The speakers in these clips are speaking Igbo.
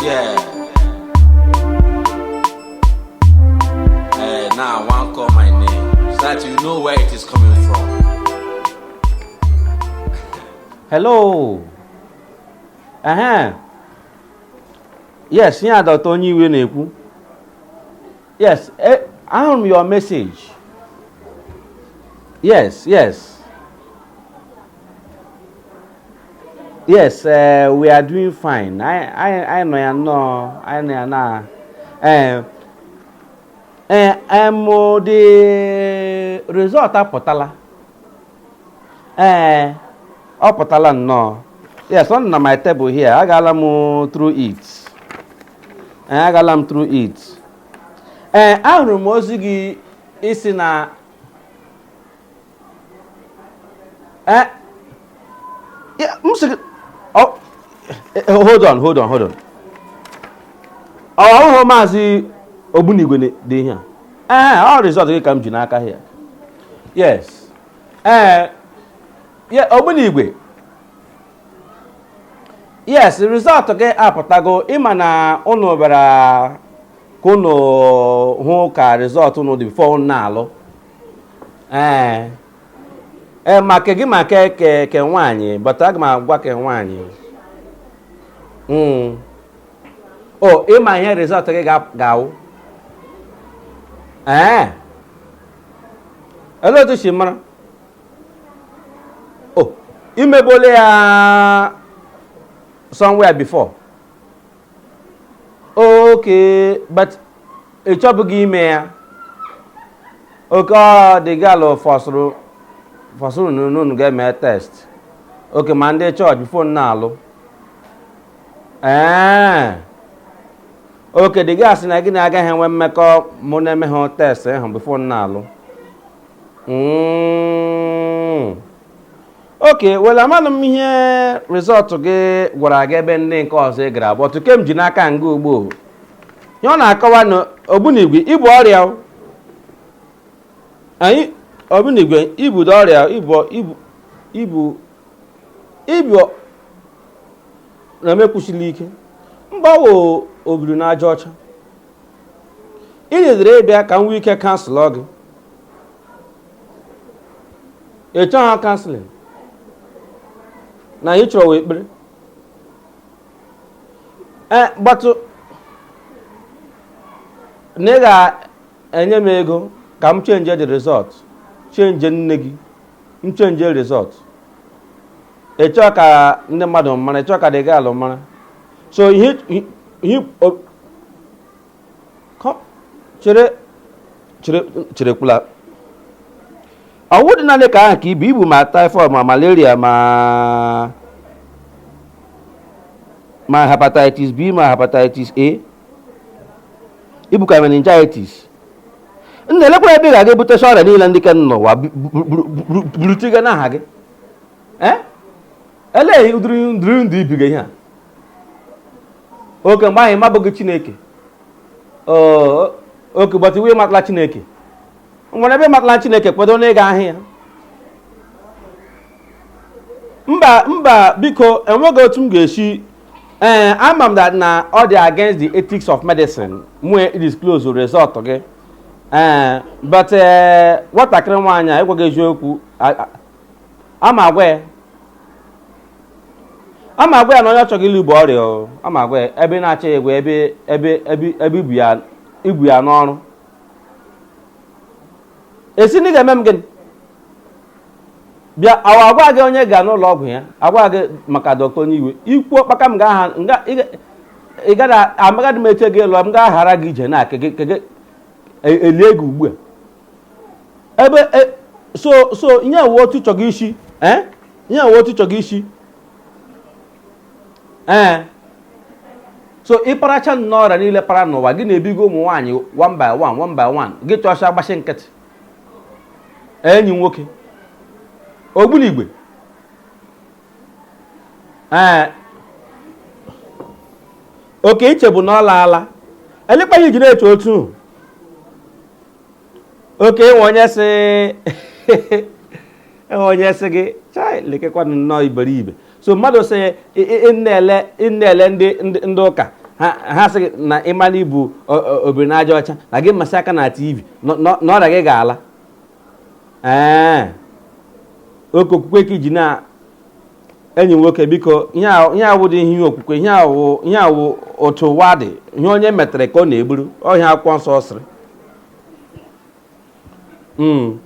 Yeah. Eh, now I want call my name so that you know where it is coming from. hello ehe yes ihe a dọta onye iwe na-ekwu Yes, eh, ahụrụ m your message. Yes, yes. Yes, uh, we are doing fine. I, I, I know ya nnọọ, I know ya na. Eh, eh, em the result apụtala. Eh, ọ pụtala nnọọ. Yes, ọ nọ na my table here. Agaala m through it. Ee, agaala m through it ee ahụrụ m ozi gị ị sị na ee ya- m sị gị ọ- eh, eh, hold on hold on hold on ọ wụhụ maazị Ogbunigwe na-ede ihe a ee ọ result gị ka m ji n'aka here yes ee ya Ogbunigwe yes result gị apụtago ị ma na ụnụ bịara ka ụnụ hụ ka result ụnụ dị before ụnụ na-alụ ee ee ma ke gị ma ke ke ke nwaanyị but aga m agwa ke nwaanyị Mm. o ị ma ihe result gị ga- ga-awụ ee olee otu i si mara oh i mebuole ya somewhere before okay but ị chọbughị ime ya okay ọ di ị ga-alụ fọsụrụ fọsụrụ n'unu ga-eme test okay ma ndị chọọchị before unu na-alụ ee okay di gị sị na gị na ya agaghị enwe mmekọ ma unu emeha test ahụ before unu na-alụ Mm. okay well amahụ m ihe result gị gwara gị ebe ndị nke ọzọ ị gara but ke m ji n'aka nga ugbu a ihe ọ na-akọwa na Ogbunigwe i bu ọrịa o. anyị Ogbunigwe i budo ọrịa i bu i bu i bu i bu na-emekwusili ike mba ọ wụ obiri n'aja ọcha ị needziri ịbịa ka m nwee ike counsel gị ị chọghị counseling na ihe ị chọrọ wụ ekpere ee but na ị ga-enye m ego ka m change the result change nye gị m change result ị chọọ ka ndị mmadụ mara ị chọọ ka di ị ga-alụ mara so ihe ihe chere chere cherekwula ọ wụdị naanị ke ahụ ka i bu i bu ma typhoid ma malaria ma ma hepatitis B ma hepatitis A i bukwa meningitis nna elekwara ebe ị ga-aga ebute ọrịa niile ndị ka n'ụwa burutiga n'ahụ gị ee elee ụdịrị ndịrị ndụ i biga ihe a ọ ke mgbe anyị mabeghị chineke ọ ke gbata i we matala chineke nwere ebe matala chineke kwedo na ị ga ahịa mba mba biko enweghị otu m ga-esi ee ama m that na ọ dị against the ethics of medicine m we disclose result gị ee but nwatakịrị nwaanyị a ị gwaghị eziokwu a m agwa ya a m agwa ya na onye ọ chọga ịlụ bu ọrịa o. a m agwa ya ebe ị na-achọ ya egwu ebe ebe ebe ebe i bu ya i bu ya n'ọrụ ị sị na ị ga-eme m gịnị bịa awa agwa gị onye ga n'ụlọ ọgwụ ya agwa gị maka dọkịta onye iwe ikwu ọkpaka m ga-aha nga ị ga- ị gaghị amaghadị m eche gị lụọ m ga-aghara gị ije na ke gị- ke gị- e- elie gị ugbu a ebe e, so so ihe a wụ otu ị chọga isi eh? ihe a wụ otu ị chọga isi ee eh. so ị paracha nnọọ ọrịa niile para n'ụwa gị na-ebigo ụmụ nwaanyị one by one one by one gị chọ sị gbachi nkịtị enyi nwoke ogbunigwe ee eh. ọ ke i chebu na ọ laala elee kpa i ji na-eche otu ọ ke e nwe onye sị e nwe onye sị gị chai lekekwanụ nnọọ iberibe so mmadụ sị ị na-ele ndị ụka ha sị na ị mana ibu obiri na aja ọcha na gị masị aka na tv na ọrịa gị ga-ala ee ọ ke okwukwe ka i ji na enyi nwoke biko ihe a- ihe a awụdị ihe okwukwe ihe a wụ ihe a wụ otu ụwa dị ihe onye metere ka ọ na-egburu ọ ihe akwụkwọ nsọ sịrị Mm.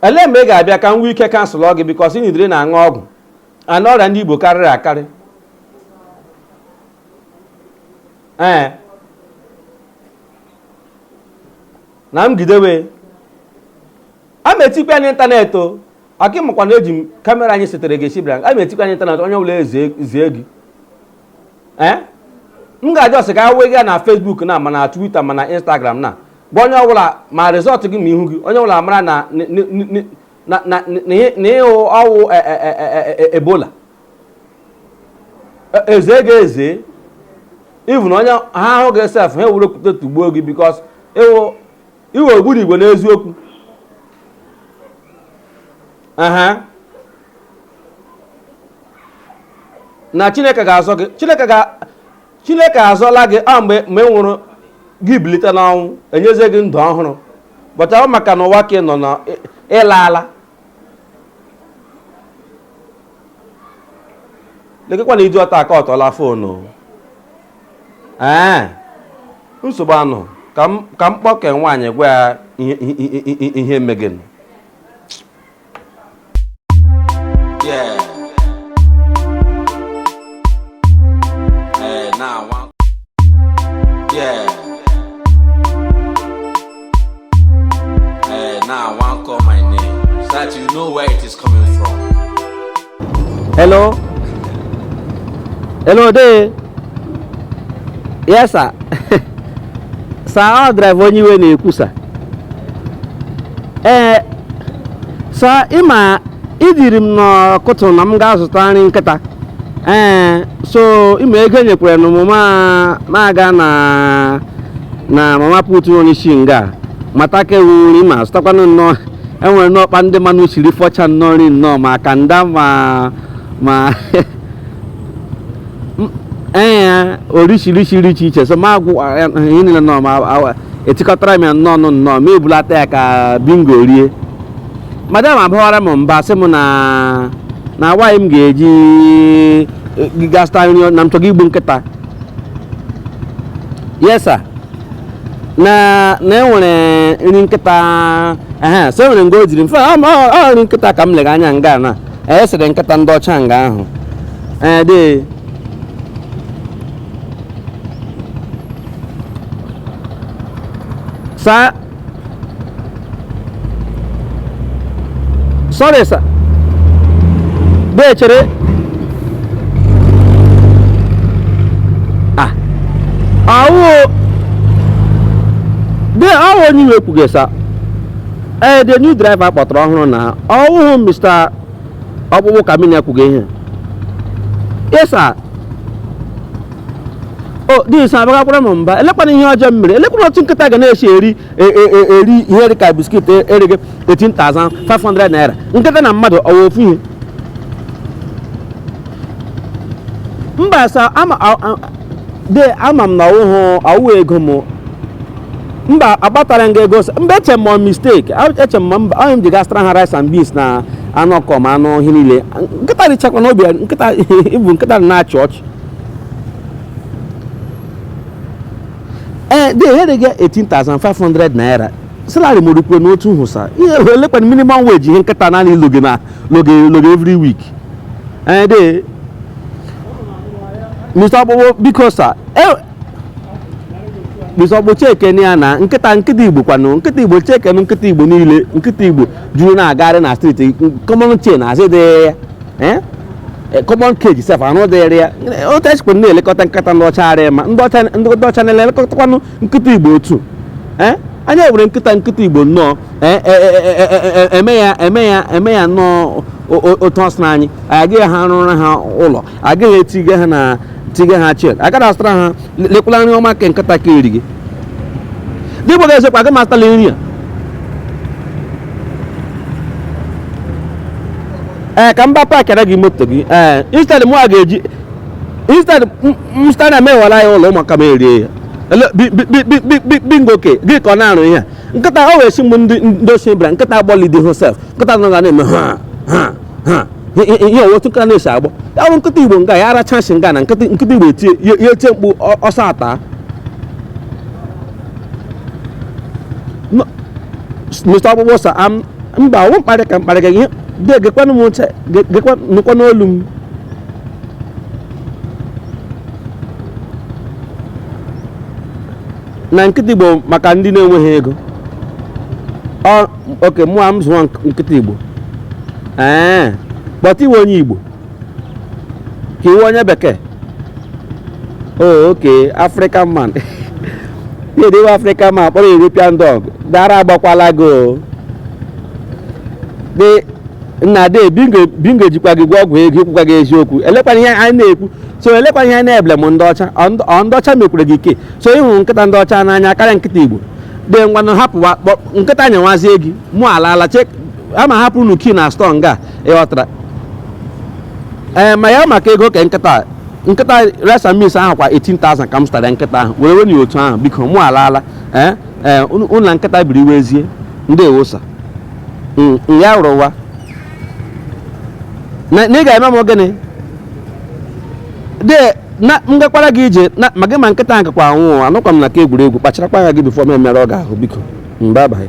elee mgbe ị ga-abịa ka m nwee ike counsel gị because ị nọdịrị na-aṅụ ọgwụ ana ọrịa ndị i bu karịrị akarị ee na m gidewe a ma etikwa ya n'ịntanetị o aka ịmakwa na eji m kamera anyị setere gị esibra a ma etikwa ya n'ịntanetị onye ọbụla ezezie gị ee m ga-ajụ ọsị ka a wee gị ya na Facebook na ma na Twitter ma na Instagram na gwa onye ọbụla ma result gị ma ihu gị onye ọbụla mara na n- n- n- n- na- na- na- na ị- na ịhụ ọwụ e- e- e- e- e- ebola E- eze gị eze even onye ha ahụ gị sef ha ewere okwute tụgbuo gị because ị wụ ị wụ ogbunigwe n'eziokwu aha na chineke ga-azọ gị chineke ga chineke azọla gị a mgbe mgbe ị nwụrụ gị bilite n'ọnwụ enyezie gị ndụ ọhụrụ but ọ wụ maka na ụwa ka ị nọ na ị- ị laala lekekwanụ idiot a aka ọ tọla foonu ee nsogbu anụ ka m ka m kpọke nwaanyị gwa ya ihe ihe- ihe- ihe meganụ Yeah. Hey, now I want call my name so that you know where it is coming from. Hello? Hello there? Yes, sir. sir, ọ driver onye iwe na-ekwu, sir. Ee, eh, sir, ịma iziri m n'ụtụtụ na m gaa zụta nri nkịta. Ee, eh, so ịma ego enyekwere nụ m m aga na na mama put onye isi nga mata ka ewu nri m azụtakwanụ nnọọ enwere n'ọkpa ndị mmanụ siri fọcha nnọọ nri nnọọ ma kanda ma ma M- ee ya orishirishi nri iche iche so m agwọ ihe niile nnọọ ma awa- etikọtara m ya nnọọ nụ nnọọ m ebulata ya ka bingo rie madam abawara m mba sị m na na why m ga-eji gaa zụta nri na m chọga igbu nkịta yes sir na na enwere nri nkịta ehe so enwere nga ọ dịrị mfe ọ ọ- ọ nri nkịta ka m lega anya nga na-esiri nkịta ndị ọcha nga ahụ ee dị sir sorry sir bee chere ah awo bee ọ wụ onye iwe kwuga sir ee the new driver kpọtara ọhụrụ na ọwụhụ mr ọkpụkpụ ka mmiri akwụgo ihe ịsa o disa abagakwala m mba eleekwanụ ihe ọjọọ m mere eleekwanụ otu nkịta ga na-esi eri e- e- e- eri ihe dị ka biskit e- erigo 18,500 naira nkịta na mmadụ ọ wụ ofu ihe mba sa ama a- a- de ama m na ọ wụhụ ọ wụ ego m mba akpatara m gị ego sị- mba eche m ọ mistake A- eche m ma mba ihe m ji gaa zụtara ha rice and beans na anụ ọkụkọ ma anụ ihe niile nkịta richakwa na obi ya- nkịta ịbụ nkịta dị na-achị ọchị ee de erigo 18500 naira salary m rukwara n'otu ahụ sa ihe eleekwanụ minimum wage ihe nkịta naanị loge na loge loge every week ee de Mr. Ọkpụkpụ biko sa e, Mr. Ọkpụkpụ Chineke ya na nkịta nkịta Igbo kwanụ nkịta Igbo Chineke nkịta Igbo niile nkịta Igbo juru na-agagharị na street common chain azụdịrị ya eh? Eh, common cage sef arụdịrị ya otu e sikwa na-elekọta nkịta ndị ọcha arịa ma ndị ọcha na-elekọtakwanụ nkịta igbo otu ee anyị were nkịta nkịta igbo nnọọ eme ya eme ya eme ya nnọọ otu a sị na anyị agaghị arụrụ ha ụlọ agaghị etiga ha na tiga ha chain agaghị azụtara ha lekwala nri ọma ka nkịta ga-eri gị dịgbo ga-ezekwa aga m azụtara nri a ee ka m gaa pakịara gị moto gị ee instead mụ a ga-eji instead m stana mewara ya ụlọ ụmụaka m erie ya bingo ke gị ka ọ na-arụ ihe nkịta o wee si mgbe ndị ndị ọcha bịara nkịta agbọlidi hosef nkịta nọ ga na-eme ha ha ha ihe otu nkịta na-esi agbọ ya bụrụ nkịta igbo nga ya arachasị nga na nkịta igbo etie ya etie mkpu ọsọ ata mr ọkpụkpụ sa mba ọ wụ mkparị ka mkparị ka ihe dị gekwanụ m ntị gekwanụ olu m na nkịta igbo maka ndị na-enweghị ego Ọ- oke mụ a m zụọ nk- nkịta igbo ee kpọta iwe onye igbo ka iwe onye bekee oh oke african man na-ewe iwe african man kpọrọ european dog dara agbakwala gị o dị nna de bingo bingo ejikwa gị gwọọ ọgwụ ego ịkwụkwa gị eziokwu eleekwanụ ihe anyị na-ekwu so eleekwa ihe na-eble m ndị ọcha ọ ndị ọcha mekwara gị ihe so ị hụrụ nkịta ndị ọcha n'anya karịa nkịta igbo dị ngwanụ hapụwa nkịta nyewazie gị mụ ala ala chek ama hapụ unu key na store nga ịghọtara ee eh, ma ya maka ego ka nkịta nkịta resa mis ahụ kwa 18,000 ka m zụtara nkịta ahụ were wenye otu ahụ biko mụ ala ala ee eh, ee eh, ụlọ nkịta biri iwe ezie ndị ewosa mm, ya rụwa na na ị ga-eme m gịnị de na m gakwara gị ije na ma gị ma nkịta ahụ gakwa anwụ ụwa anọkwa m na nke egwuregwu kpacharakwa anya gị before m emerụọ gị ahụ biko mgbe abaghị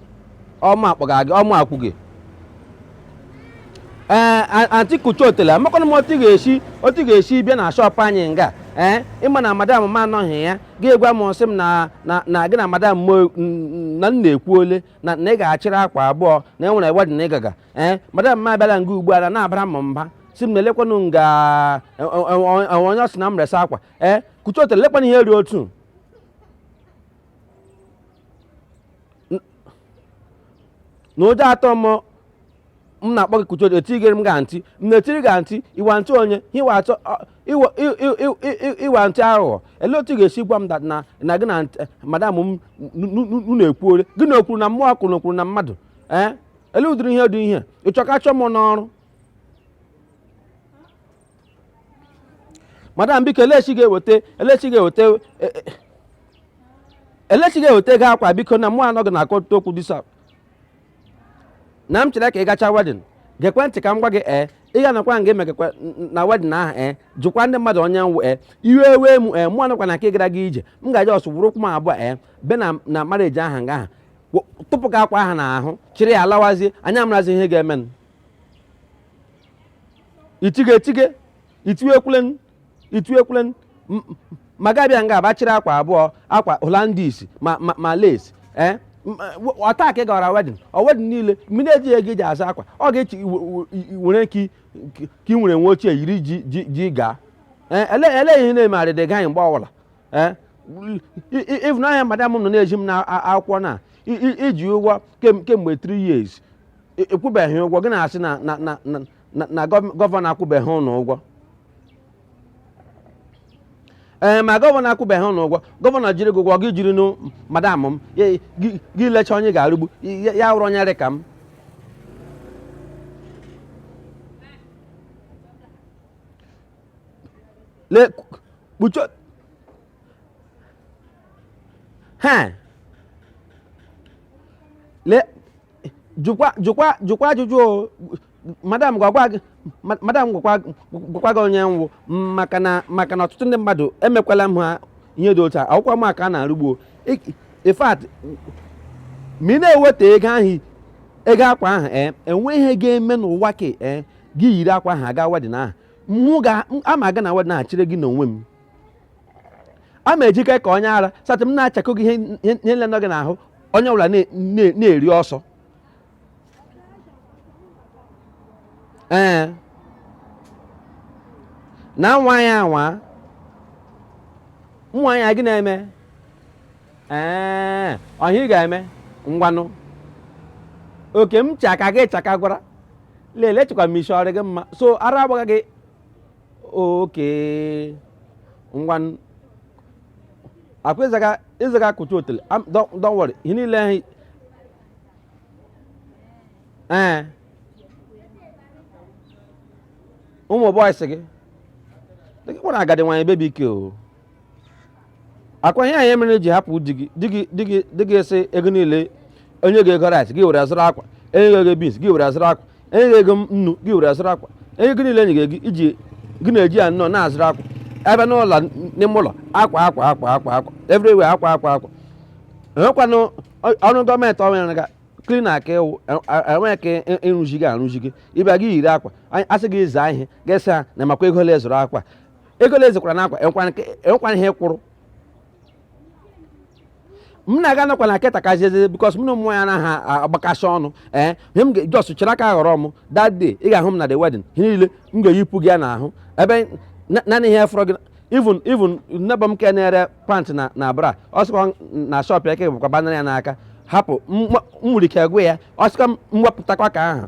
ọ mụ akpọga gị ọ mụ akwụ gị ee aunty kuchi otele amakwanụ m otu ị ga-esi otu ị ga-esi bịa na shop anyị nga ee ị ma na madam m anọghị ya ga-egwa m sị m na na na gị na madam m o- n- na m na-ekwu ole na na ị ga-achịrị akwa abụọ na e nwere wedding ị ga-aga ee madam m abịala nga ugbu a na na-abara m mba si m na elekwanụ nga e- e- e- e- onye ọ sị na m resa akwa ee kuchi otele lekwanụ ihe ị rị otu na ụjọ atụ m m na-akpọ gị kuchi etigere m ga ntị m na-etiri ga ntị iwa ntị onye iwa atọ ọ- iwa- i- i- i- i- i- iwa ntị aghụghọ ele otu ị ga-esi gwa m that na na gị na ntị- madam m n- n- n- unu ekwuole gị na okwuru na mmụọ kwuru na okwuru na mmadụ ee ele ụdịrị ihe dị ihe ị chọ ka a chụọ m n'ọrụ madam biko elechi ị ga-eweta elechi ị ga-eweta e, e, elechi ị ga-eweta ego akwa biko na mụ anaghị aghọta okwu ị sị na m chere ka ị gachaa wedding gekwe ntị ka m gwa gị ee ị ga nakwa nga emegakwa na wedding ahụ ee jụkwa ndị mmadụ onye m wụ ee iwe wee m ee mụ anọkwa na nke gara gị ije m ga-eji ọsọ were ụkwụ m abụọ ee bịa na na marriage aha nga aha tọpụ gị akwa aha n'ahụ chịrị ya lawazie anyị amarazie ihe ga-emenụ itige etige itiwe ekwulen itiwe ekwulen M- m- ma ị ga-abịa nga bịa chịrị akwa abụọ akwa holandis ma ma, ma lace eh? M- m- ọ taa ka ị gara wedding ọ wedding niile mmiri eji ego iji azụ akwa ọ ga-echi i- i- i- i- were ka i- ka i nwere uwe ochie yiri ji ji ji gaa Eh, ele ele ihe na-eme arịdị gaghị mgbe ọbụla Eh, i- i- ịfụnanya madam m nọ na-ezi m na a- akwụkwọ na i- i- i ji ụgwọ kem- kemgbe 3 years E- akwụbeghị ụgwọ gị na-asị na na na na- na na gov- governor akwụbeghị unu ụgwọ ee ma governor akwụbeghị unu ụgwọ governor jiri gị ụgwọ gị jirinụ madam m ya- gị gị lecha onye ga-arụgbu ya ya wụrụ onye dị ka m le kpucho ha le jụkwa jụkwa jụkwa ajụjụ o madam gwakwa gị ma- madam gwakwa gwakwa gị onye m wụ maka na maka na ọtụtụ ndị mmadụ emekwala m ha ihe dị otu a awụkwa m aka na-arụgbuo Ik- in fact ma ị na-eweteghị ego ahụ ego akwa ahụ ee enweghị ihe ga-eme n'ụwa ka ee gị yiri akwa ahụ gaa wedin ahụ mụ ga ama aga na wedin ahụ chịrị gị n'onwe m a ma ejike ka onye ara satị m na-achaka gị ihe nile nọ gị n'ahụ onye ọbụla na-eri ọsọ ee na nwa ya anwa nwa ya gị na-eme ee ọ ihe ị ga-eme ngwanụ oke m chaka gị chaka gwara lelee chekwa ma isi ọ rị gị mma so ara agbaghị gị oke ngwa akwa ịzaga ịzaga akụcha otele Am- don't don't worry ihe niile ahụ ee ụmụ bọyịsị gị dịka kpọrọ agadi nwaanyị bebi ike o akwa ihe mere i ji hapụ di gị di gị di gị di gị sị ego niile enye gị ego rice gị were azụrụ akwa enye gị ego beans gị were azụrụ akwa enye gị ego nnu gị were azụrụ akwa enye gị niile enye gị ego iji gị na-eji ya nnọọ na-azụrụ akwa abịa n'ụlọ n'ime ụlọ akwa akwa akwa akwa akwa everywhere akwa akwa akwa enwekwanụ ọ- ọrụ gọọmenti ọrụ ya ga klin aka ịwụ enweghị ka ị- ịrụzi gị arụzi gị ịbịa gị yiri akwa Anyị- asị gị zaa ihe ga-esi ha na makwa ego ole a zụrụ akwa ego ole ezikwara n'akwa enwekwara ihe kwụrụ m na-aga nakwa na keta ka jeje bikos m na ụmụ nwaanyị anaghị agbakasị ọnụ ee ihe m ga-ejọs chere aka ghọrọ m that day ị ga-ahụ m na the wedding ihe niile m ga-eyipụ gị ya n'ahụ ebe na- naanị ihe fọrọ gị even even neighbour m ke na-ere pant na na bra ọ sikwa na shọp ya ke bụkwa banara ya n'aka hapụ m nwa- m nwere ike gwa ya ọ sịkwa m wepụtakwa ke ahụ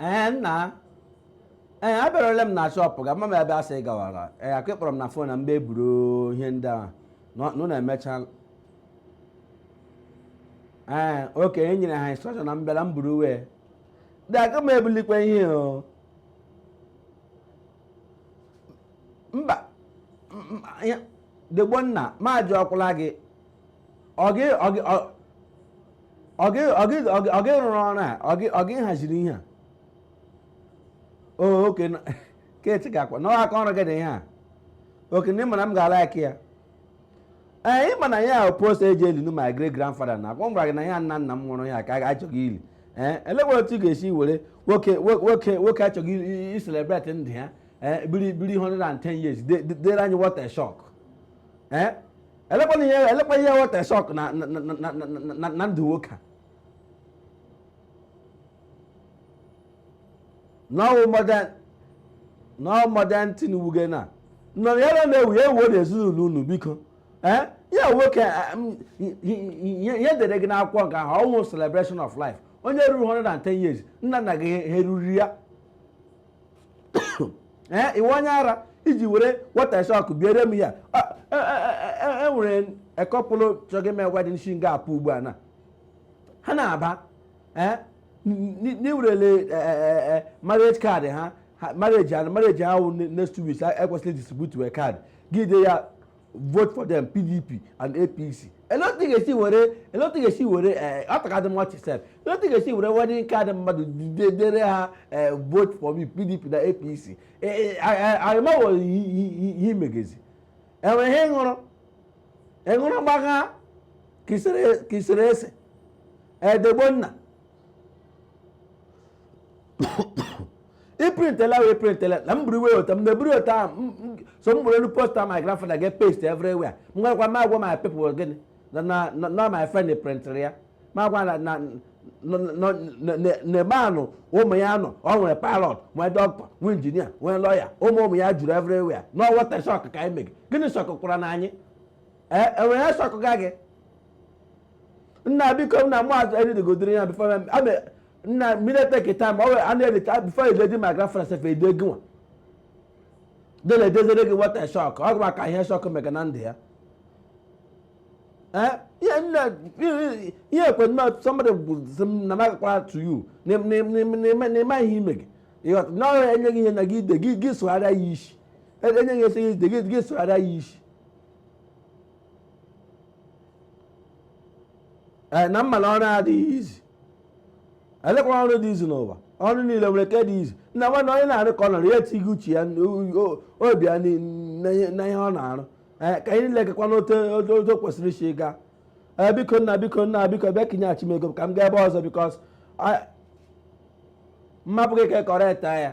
ee nna ee abịaruola m na shọpụ gị amaghị m ebe i si gawara ee ka ị kpọrọ m na fon na m bịa buru ihe ndị a unu na-emecha ee oke e nyere ha instrọkshọn na m bịala m buruwe dị aka m ebulikwa ihe o mba dee Ogbonna m ajụọkwala gị ọ gị rụrụ ọrụ a ọ gị haziri ihe a oke keti ga-akwa na aka ọrụ gị dị ihe a oke m ma na m ga-alike ya ee ị ma na ya post e ji eli nụ my great grandfather na akwa m gwara gị na ya nna nna m nwụrụ ya ka a chọga ili ee eh, elekwa otu ị ga-esi were nwoke nwoke nwoke a chọga iselebreti ndụ ya ee eh, biri biri 110 years dere anyị what a shock ee eh, elekwana ihe elekwa ihe what a shock na na- na- na- na- na- na ndụ nwoke a na ọ wụ modern na ọ wụ modern thing wụ gịnị nọ ya na na-ewu ya ewu na ezinụlọ unu biko ee ya nwoke eh, m, i- i- i- ihe ihe dere gị n'akwụkwọ nke ahụ ọ wụ celebration of life onye ruru 110 years nna nna gị ha eruru ya ee ị wụ onye ara i ji were what a shock biere m ya e nwere e, e, e, a couple chọgị m egwa dị shi nga a pụ ugbu a na ha na-aba ee n'iwerele marriage card ha marriage ha marriage ha wụ next two weeks e kwesịrị distribute card gị dee ya vote for them pdp and apc elee otu ị ga-esi were elee otu ị ga-esi were eh, ọ takadị mma chi sef elee otu ị ga-esi were wedding card mmadụ de- dere ha eh, vote for me pdp na apc arịmawo ihe ị megazi e nwere ihe ị ṅụrụ ị ṅụrụ gbagha ka i sere ese edegbo nna ị printela wee printela na m buru iwe ụta m na-eburu ụta ahụ so m buru elu poster my grandfather gaa paste everywhere m gwakwa m agwa my people gịnị na my friend printịrị ya ma gwa na n'ebe anyị ụmụ ya nọ ọ nwere pilot nwee dọkịta nwee injinia nwee lọya ụmụ ụmụ ya juru everywhere na ọ what a shock ka anyị mege gịnị shockwara anyị e nwere ihe shockga gị nna biko nna mụ azụ readigodiri ya before nna m ị na-etake time ọ were a na-eri ka before ededi ma gra frans efe ede gị nwa dele edezere gị what a shock ọ gwa ka ihe shock mega na ndụ ya Eh, ihe nna ihe ekwe nna somebody gwụzi m na magakwara to you na na- na- na- na- na ị ma ihe ị mega ị ghọta na ọ e nye gị ihe na gị dee gị gị sụgharịa ya isi E- e nye gị ihe sị gị dee gị gị sụgharịa ya isi Eh, na ị ma na ọrụ adịghị easy elekwa ọrụ dị easy n'ụwa ọrụ niile o nwere nke dị easy nna nwanne onye na-arụ ka ọ nọrọ ya etinye uche ya obi ya na ihe ọ na-arụ eh, ka anyị niile gakwa n'otu o kwesịrị isi ịga eh, biko nna biko nna biko bịa ka i nyeghachi m ego ka m gaa ebe ọzọ because m hapụ gị ka ị correctia ya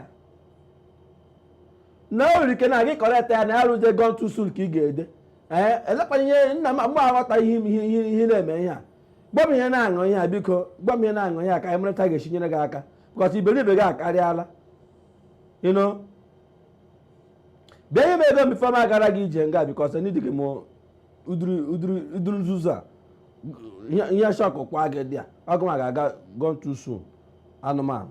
na o nwere ike na gị correctia ya na ya wụrụzie gone too soon ka ị ga-ede ee eh, elekwana ihe nna m aghọta ihe ị na-eme ihe a gwa m ihe ị na-aṅụ ihe a biko gwa m ihe ị na-aṅụ ihe a ka anyị mara otu a ga-esi nyere gị aka because iberibe gị akarịala ị nụ bịa nye m ego m before m agara gị ije nga because na edighị m ụdịrị nzuzu a ihe shọkụkwa gị there ọ gị nwa ga-aga gone too soon anụmanụ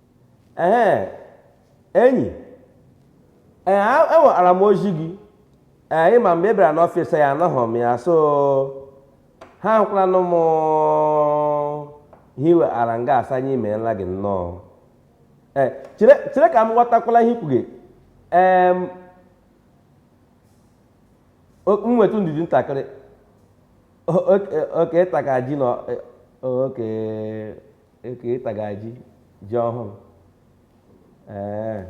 ee enyi ee enwetara m ozi gị ee ịma mgbe ị bịara n'ọfịs ya anọghị m ya so ha nyekwaranụ m ihe i wetara nga asa anyị imeela gị nnọọ ee chere chere ka m ghọtakwala ihe ị kwuga ee m nwetụ ndidi ntakịrị oke ịtaga ji na oke oke ịtaga ji ji ọhụrụ ee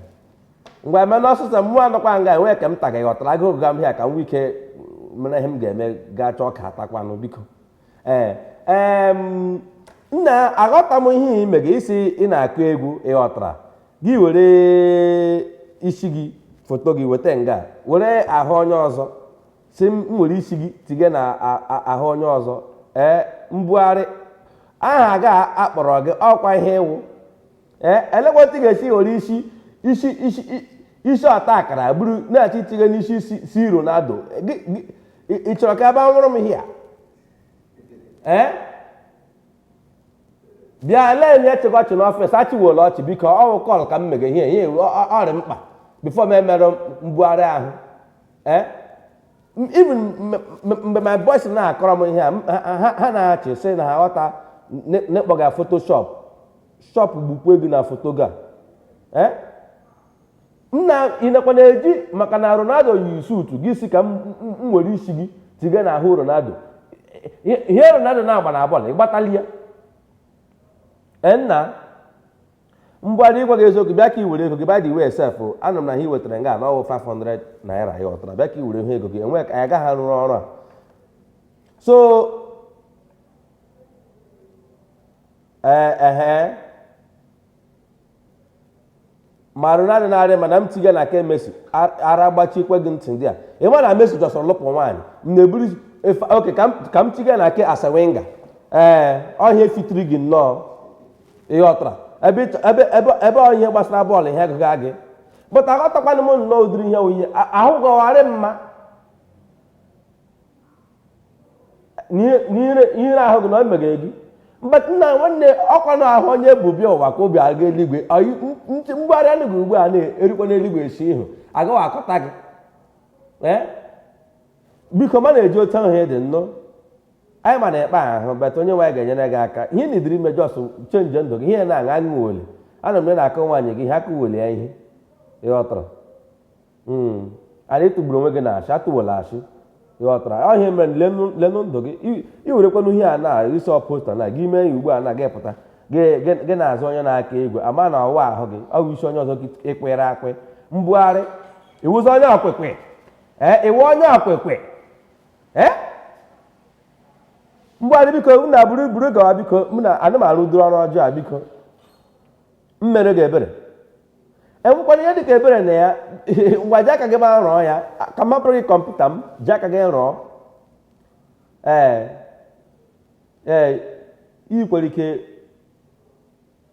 ngwa mee n'ọsịsọ mụwa nọkwa nga enweghị nke m taga ghọtara agụụ gụga m ihe a ka m nwee ike mere ihe m ga-eme gaa chọọ ka atakwanụ biko ee ee m nna aghọta m ihe ị mega isi ị na-akụ egwu ịghọtara gị were isi gị foto gị weta nga were ahụ onye ọzọ sị m were isi gị tige na ahụ onye ọzọ ee mbugharị aha ga akpọrọ gị ọkwa ihe ịwụ ee elee otu ị ga-esi were isi isi isi isi ọta akara buru na-achọ itige n'isi C Ronaldo ị chọrọ ka a bịa nwuru m ihe a ee bịa elee onye chịga ọchị n'ọfịs achịwuola ọchị biko ọwụ call ka m mege ihe ihe ọrị mkpa before m emere mbugharị ahụ ee even mgbe my boys na-akọrọ m ihe a ha na-achị sị na ha ghọta n'ịkpọga Photoshop shop gbukwa ego na foto ga ee nna ị nakwa na-eji maka na Ronaldo yi suutu ị sị ka m m were isi gị tiga n'ahụ Ronaldo Ihe- ihe Ronaldo na-agba na bọọlụ ịgbatali ya Ee, nna mgbadị ịgwa gị eziokwu bịa ka i were ego gị by the way sef anụ m na ihe i wetara nga na ọwụ 500 naira ịghọtara bịa ka i were ihe ego gị enwe ka anyị agaghị arụrụ ọrụ a so ee ehe ma rụrụ adị narị mana m tiga na nke Messi ara gbachikwe gị ntị there ị ma na Messi just lụpụ nwaanyị m na-eburu oke ka m tiga na nke Arsene Wenger ee ọ ihe fitiri gị nnọọ ịghọtara ebe ọ ihe gbasara bọọlụ ihe agụga gị but aghọtakwana m nnọọ ụdịrị ihe onye ahụ gọgharị mma n'ihere ahụ gị na o meghe gị mgbe nna nwanne ọkwa na ahụ onye bụ bịa ụwa ka obi aga eluigwe mbugharị anụ gị ugbu a na-erikwa n'eluigwe esi ihu agaghị akọta gị biko ma na-eji otu ahụ dị nnọọ anyị ma na-ekpe ahụ bata onye nwaanyị ga-enyere gị aka ihe na idiri imejọ ọsụ chenji ndụ gị ihe na-aṅa aṅụ weli ana m na-akọ nwaanyị gị ihe aka weli ya ihe ịghọtara Mm. Ala ịtụgburu onwe gị na ashị atụwela ashị ịghọtara ọ ihe mere lenụ lenụ ndụ gị I- i werekwanụ ihe a na isi ọposta na gị mee ya ugbu a na gị pụta gị gị- gị na-azụ onye na-aka igwe ama na ọwa ahụ gị ọ wụ ishi onye ọzọ gị ikwere ekwe mbugharị ịwụzi onye okwukwe ee ịwụ onye okwukwe ee mbugharị biko m na buru buru gawa biko m na anụmanụ duru ọrụ ọjọọ a biko m mere gị ebere enwekwara ihe dịka ebere na ya ngwa ji aka gị ma rụọ ya ka m gị kọmputa m ji aka gị rụọ ee ee ị kwere ike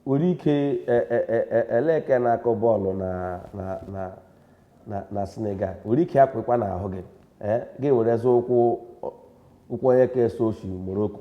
nwere ike e, e, e, eleke na-akụ bọọlụ na Senegal nwere ike akwụkwa n'ahụ gị gị were zụ ụkwụ ụkwụ onye ka eso oshi Morocco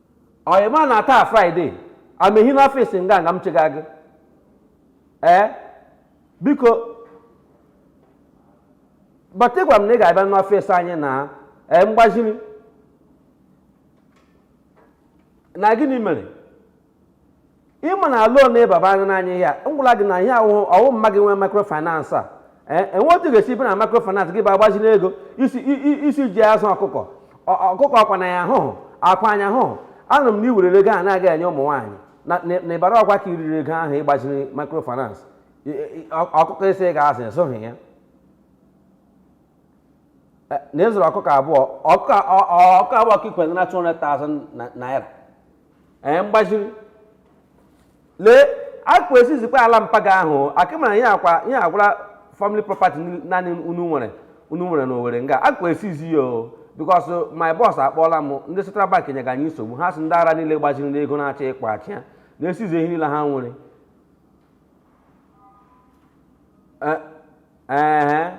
o ịma na taa Friday amehi n'ọfịs nga nga m chịga gị ee biko but ịgwa m na ị ga-abịa n'ọfịs anyị na ee mgbaziri na gịnị mere ịma na loan ịbaba anya n'anya ihe a ngwụla gị na ihe ahụ ọwụ mma gị nwee microfinance a ee enwe otu ga-esi bịa na microfinance gị bịa gbaziri ego ịsị i- i- ịsị iji azụ ọkụkọ Ọ- ọkụkọ akwa anya ahụhụ akwa anya ahụhụ anụrụ m na iwerere ego a na-aga enye ụmụ nwaanyị na- na na ịbara ọkwa ka iriri ego ahụ ịgbaziri microfinance I- i- ọ- ọkụkọ ịsị ị ga-azụ ịzụhụ ya Eh, na ịzụrụ ọkụkọ abụọ ọkụkọ ọ- ọ- ọkụkọ abụọ ka ikwere na 200,000 na- naira ee mgbaziri lee akwa esizikwa ala mpa gị ahụ akịmara ya akwa ya agwara family property ni- naanị unu nwere unu nwere na Owere nga akwa esizi ya o because my boss akpọọla m ndị central bank nyega anyị nsogbu ha sị ndị ara niile gbaziri n'ego na-achọ ịkpa achị ya na-esizi ihe niile ha nwere Eh, ehe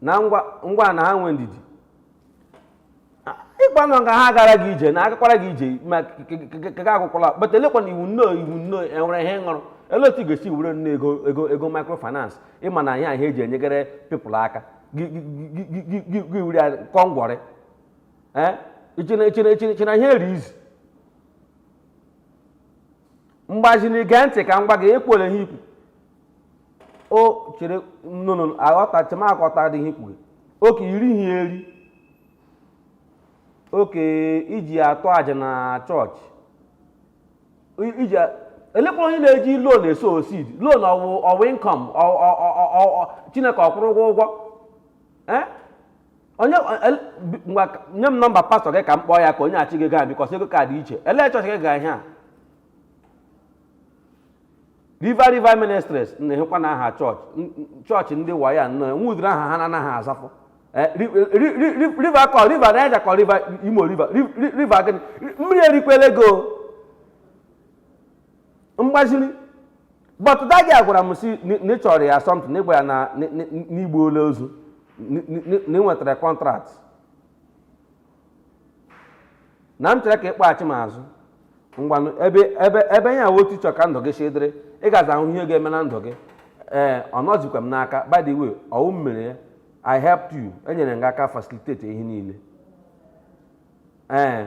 na ngwa ngwa na ha nwee ndidi ịgwa na nga ha gara gị ije na agakwara gị ije ma kega akwụkwọla but elekwanụ iwu nnọọ iwu nnọọ enwere ihe ịṅụrụ olee otu ị ga-esi were nne ego ego ego microfinance ịma na ihe ahụ eji enyegere people aka gị gị- gị- gị- gị- gị- gị were ya kọ ngwọrị ee ichena ichena ichena ichena ihe eri izi mgbaziri gee ntị ka m gwa gị ekwere ihe ikwu o chere nnụnụ aghọta chemaghọta dị ihe ikwu gị oke iri ihe eri oke iji atụ aja na chọọchị I- iji a- elekwa onye na-eji loan e sow seed loan ọwụ ọwụ income Chineke ọ kwụrụ ụgwọ ụgwọ eh? onye eh, nye m nọmba pastọ gị ka m kpọọ ya ka onye achị gị gaa because ego ka dị iche elee chọọchị gị ga ihe a river river ministries na-ehekwa na aha chọọchị chọọchị ndị wayo na-enwe ụdịrị aha ha na-anaghị azafụ eh, river kọ river Niger kọ river imo river river gịnị mmiri erikwela ego m gbaziri but da gị agwara m si na ị chọrọ ya something na ịgba ya na n'igbo ole ozu na i nwetara contract na m chere ka ị kpọghachi m azụ ngwanụ ebe ebe ebe ya nwe otu ị chọ ka ndụ gị si dịrị ị gaza ahụ ihe ga-eme na ndụ gị ee ọ nọzikwa m n'aka by the way ọ wụ m mere ya I helped you enyere m gị aka facilitate ihe niile ee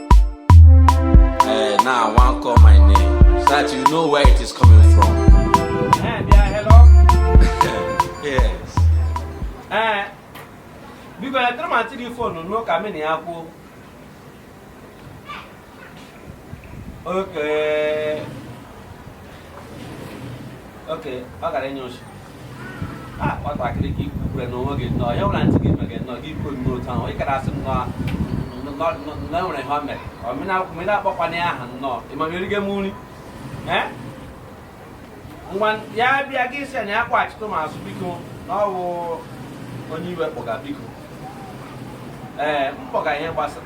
Hey, eh, now I wan call my name so that you know where it is coming from. Hey, eh, yeah, hello. yes. Eh, biko ya tụrụ ma tiri fonu n'ụka mini ya kwuo. Okay. okay ọ gara enye ochi a nwatakịrị ka i kwukwure na onwe gị nnọọ ya nwere ntị gị mere nnọọ gị kwuo nnọọ otu ahụ ị gara asị nnọọ na enwere ihe o mere ọmena akpọkwana ya aha nnọọ ị ma m eriga nri ngwa ya bịa gị si na ya kpọghachitụ m azụ biko na ọ wụ onye iwe kpọga biko ee m kpọga ihe gbasara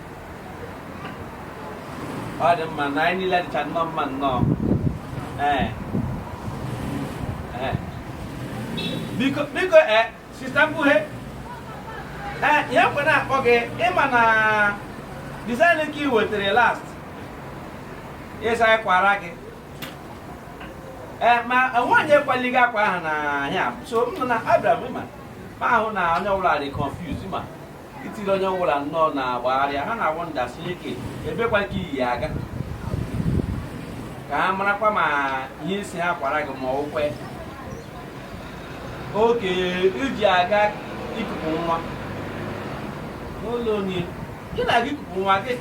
ọ dị mma na anyị niile dịcha nnọọ mma nnọọ ee ee biko biko ee sister mkpughe ee ihe m ji na-akpọ gị ị ma na design ke ị wetara last ị sị anyị kwara gị ee ma nwaanyị akwali gị akwa ahụ na ya so m nọ na abịara m ịma ma ahụ na onye ọbụla dị confused ma itiri onye ọwụla nnọọ na-agbagharịa ha na-awụ nda Chineke ebekwa ka i yi ya aga ka ha marakwa ma ihe ị sị ha kwara gị ma ọ wụkwe ke i ji aga ikupu nwa n'ụlọ onye ị na-aga ikupu nwa gị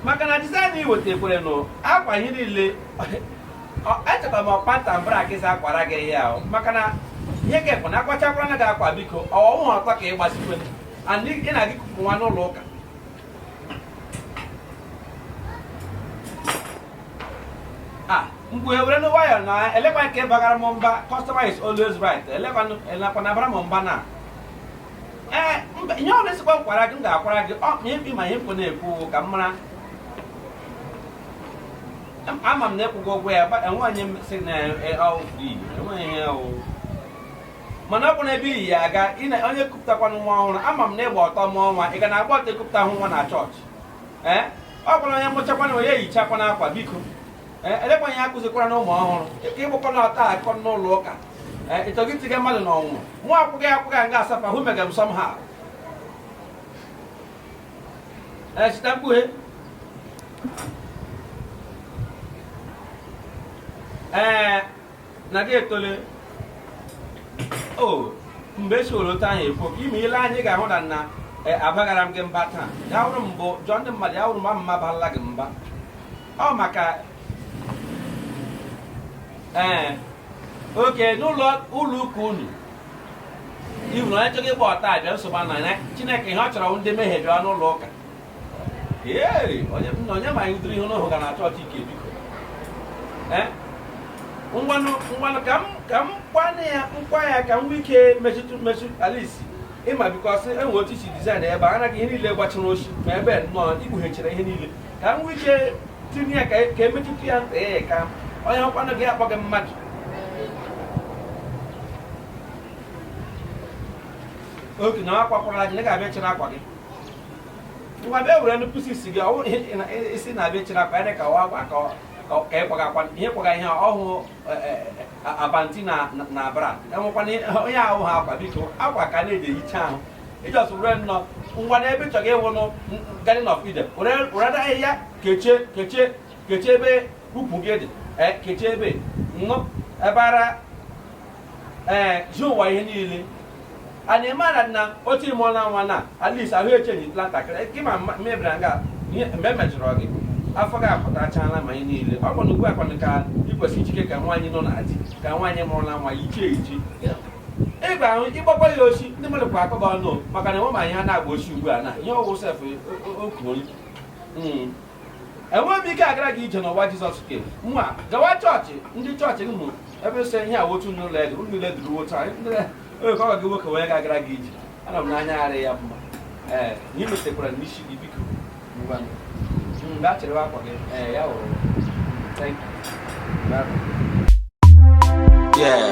maka na design i wetakwere nụ akwa ihe niile echeta m ọkpanta m bara gị za akwara gị ya maka na ihe gị bụ na akwachakwara na gị akwa biko ọ wụhụ otu ọ ka ị gbazikwe and ị na-aga ikupu nwa n'ụlọ ụka mgbe were nwayọ na elekwa nke bagara m mba customer is always right elekwa elekwa na-abara m mba na ee ihe ọ na-esikwa m kwara gị m ga-akwara gị ọ ma ihe mkpụ na-ekwu ka m mara ama m na ịkwụgo ụgwọ ya enwe onye sị na ọwụ free enweghị ihe ọwụ mana ọ bụ na ebe i yi ya aga onye kupụtakwana nwa ọhụrụ ama m na ịgba ọtọ mụọ nwa ị ga na agba ọtọ ekupụta hụ nwa na chọọchị ee ọ bụrụ onye mụchakwana onye yichakwana akwa biko ee elekwa ihe akụzikwara na ụmụ ọhụrụ ịka ịgbakwana ọtọ aga n'ụlọ ụka ee ịchọgị tiga mmadụ n'ọnwụnwa akwụghị akwụghị nga asafa hụ mega m somehow Eh, sita mkpughe. Eh, na gị etole. O, oh, mgbe e soro otu anyị ekwu, ime ile anyị ga-ahụ na nna Eh, abaghara m gị mba taa ya wụrụ mbụ jụọ ndị mmadụ ya wụrụ mba mma barala gị mba ọ maka ee eh, oke n'ụlọ ụlọ ụka unu ị hụna onye chọrọ ịgba ọtọ abịa nsogbu na ya chineke ihe ọ chọrọ ndị mmehie bịa n'ụlọ ụka onye ma anyị ihe n'ahụ ga na chọọchị ike biko ngwanụ ngwanụ ka m ka m kwana ya akwa ya ka m nwee ike metụtụ metụ alisi ịma because enwe otu isi design ebe a anaghị ihe niile gbachara ochi ma ebe nnọọ ikpughechara ihe niile ka m nwee ike tinye ya ka e, e metụta ya ntị ya ka onye ọkwanụ gị akpọ gị mmadụ okay na akwakwara aja ga-abịa chere akwa gị ngwa bịa were nnukwu isi gị ọwụ isi na-abịa chere akwa ya ka ọ akwa ka ịkwaga akwa ihe kwaga ihe ọhụụ panty na na bra enwekwana onye ahụ ha akwa biko akwa ka na-eji ehicha ahụ ị just were nnọọ ngwa n'ebe ị chọrọ ịwụnụ garden of eden were na ahịhịa kechie kechie kechie ebe ukwu gị dị kechie ebe nnọọ ebe ara ee ji ụwa ihe niile and ị mara na otu ị mụọla nwa na at least ahụ echenji ntakịrị gị ma mma- mebiri nga ihe mgbe emejọrọ gị afọ gị apụtachala ma ihe niile ọ bụ na ugbu a kwanụ ka ị kwesịrị ijike ka nwaanyị nọ na di ka nwaanyị mụrụla nwa yichie eji ị ga ahụ ịgbakwa ya osi ndị mmadụ kwa akọba ọnụ maka na enwe ma ihe ha na-agba osi ugbu a na ihe ọwụ sef okwuori enweghị m ike agara gị ije n'ụwa jizọs ke nwa gawa chọọchị ndị chọọchị gị mụ ebe sị ihe a wotu n'ụlọ elu ụlọ ile duru wotu anyị Onye ka ọ gị nwoke wee ga-agara gị ije ana m n'anya ara ya mma ee na ị metekwara n'isi gị biko ngwa m. mgbe a chịrịwa akwa gị ee ya wụrụ thank you Yeah.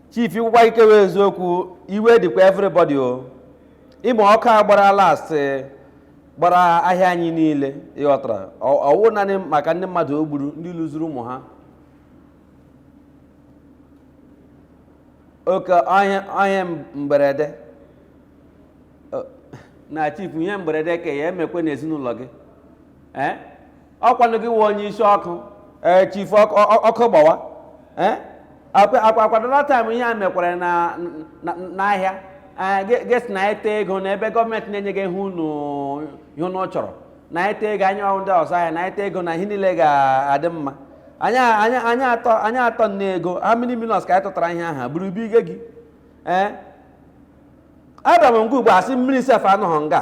chief i kwukwa i kwuwe eziokwu iwe dịkwa everybody o ị ma ọkụ a gbara last gbara ahịa anyị niile ị ghọtara ọ wụ naanị maka ndị mmadụ o gburu ndị luzuru ụmụ ha oke ihe mberede na chief ihe mberede ka ya emekwe n'ezinụlọ gị ee ọkwanụ gị wụ onye isi ọkụ ee chifu ọkụ ọ- ọkụ gbawa ee akwa akwa- akwa that time ihe a mekwara na na- n'ahịa ee, gị gị sị na anyị wete ego n'ebe gọọmenti na-enye gị ihe unu ihe unu chọrọ na anyị wete ego anyị wụ ndị ọzụ ahịa na anyị wete ego na ihe niile ga-adị mma anyị anyị anyị atụọ anyị atụọ nne ego how many millions ka anyị tụtara ihe aha buru ibu ige gị ee abịara m nga ugbu a a sị mmiri sef anọghị nga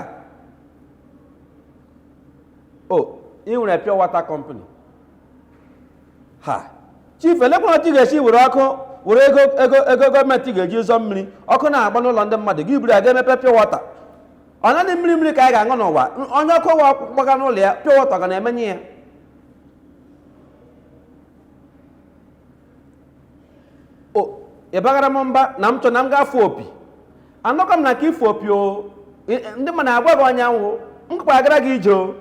o ị nwere pure water company ha chief elekwa otu ị ga-esi were ọkụ were ego ego ego gọọmenti ga-eji zụọ mmiri ọkụ na-agba n'ụlọ ndị mmadụ gị buru ya gaa mepee pure water ọ naanị mmiri mmiri ka anyị ga-aṅụ n'ụwa onye ọkụ wa gbaga n'ụlọ ya pure water ga na-emenyụ ya ịbaghara m mba na m chọ na m ga-afụ opi anọkọ m na ka ịfụ opi o I- i- ndị mmadụ agwa gị onye m wụ m gakwa agara gị ije o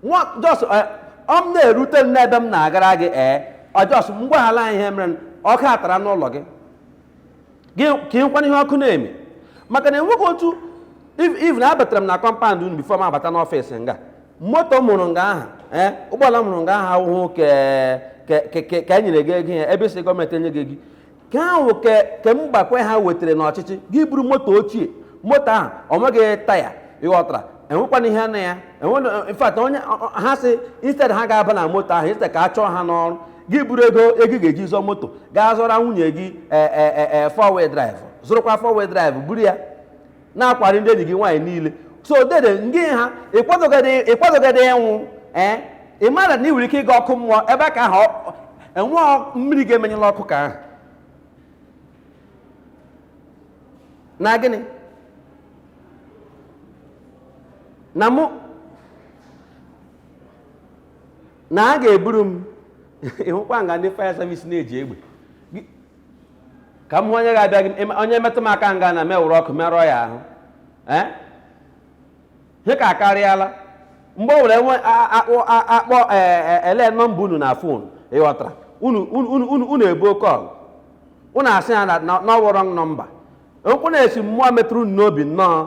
nwa just eh, ọ m na-erute m n'ebe m na-agara gị ee ọ just m gwaghala ihe mere ọka atara n'ụlọ gị gị ka ịkwana ihe ọkụ na-eme maka na enweghị otu even abatara m na compound unu before m abata n'office nga moto m hụrụ nga aha ee ụgbọala m hụrụ nga aha ahụhụ ke ke- ke- ke- ka e nyere gị ego ya ebe si gọọmenti enye gị gị ka ahụ ke ke mgbanwe ha wetara n'ọchịchị gị buru moto ochie moto ahụ ọ nweghị taya ị ghọtara enwekwana ihe na ya enwe in fact onye ọ- ọ- ha si instead ha ga-aba na moto ahụ instead ka a chụọ ha n'ọrụ gị buru ego ego ị ga-eji zụọ moto gaa zụra nwunye gị ee ee ee ee four wheel drive zụrụkwa four wheel drive buru ya na-akwari ndị enyi gị nwaanyị niile so dede ngị ha ịkwadogede ịkwadogede ịnwụ ee ị mara na ị nwere ike ịga ọkụ mmụọ ebe a ka ahụ enwe mmiri ga-emenyụla ọkụ ka ahụ na gịnị na mụ na ha ga-eburu m ị hụkwa nga ndị fire service na-eji egbe Gị- ka m hụ onye ga-abịa gị ịma- onye metụ m aka nga na m ewere ọkụ merụọ ya ahụ ee ihe ka akarịala mgbe o were nwe a- a- akpọ a- akpọ ee, e- ele nọmba unu na phone ị ghọtara unu unu unu- unu unu ebuo call unu asị ya na na- na ọ wụ wrong number okwu na-esi mmụọ metụrụ unu n'obi nnọọ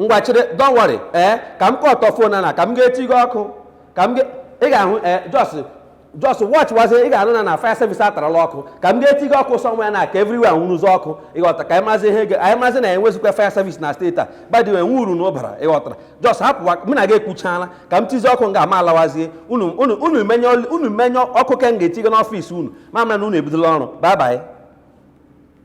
ngwa chịrị don't worry ee eh, ka m kọtọ fon na ka m ga-eti gị ọkụ ka m ị ga-ahụ ee eh, just just watch wazie ị ga-anụ na na fire service atarala ọkụ ka m ga-eti gị ọkụ sọnwa ya na ka everywhere nwụrụzi ọkụ ịghọta ka anyị mazi ihe anyị mazi na enwezikwa fire service na steeti a by the way nwe uru unu bara ịghọtara just hapụwa mụ na gị ekwuchaala ka m tizi ọkụ nga a mụ alawazie unu menyụọ ọkụ ke m ga-eti gị n'ọfịs unu mụ amara na unu ebidola ọrụ babaị